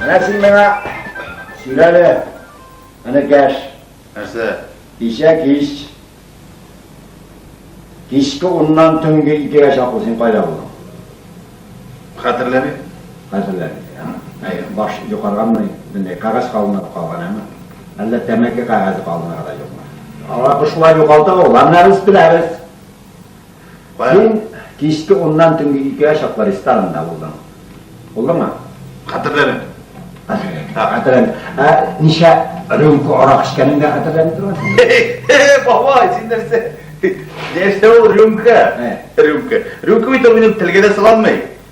Менә син миңа сөйләле, энекәш. Нәрсә? Кичә кич, кичке уннан төнге икегә чаклы син кайда булдың? Хәтерләмим. Хәтерләмим. Әй, баш юкарганмы? Менә кагаз калынып калган әмма. Әллә тәмәке кагазе калынып да юкмы? Алар шулай югалта ул, аннары үз беләбез. Син кичке уннан төнге икегә чаклы ресторанында булдың. Булдыңмы? Хәтерләмим. Хәтерләмим. Ә ничә рюмка арак эчкәнен дә хәтерләмим торгансың. Баба, син нәрсә? Нәрсә ул рюмка? Рюмка. Рюмка бит ул минем телгә дә салынмый.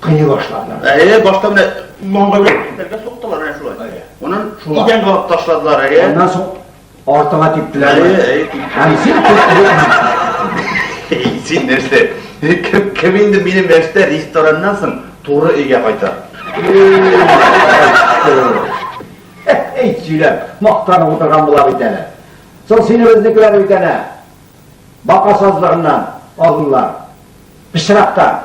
Кыйный башладылар. Әйе, башта менә маңгайлар китәргә суктылар әнә шулай. Әйе. Онын идән гап ташладылар, әйе. Аннан соң артыга типтеләр. Әйе, әйе. Һәм син Син нәрсә? Кем, кем инде минем яшьтә рестораннан соң туры өйгә кайта? Әй, сөйләп, мактанып утырган була бит әле. Соң сине безнекеләр бит әнә. Бака сазлыгыннан алдылар. Пычрактан.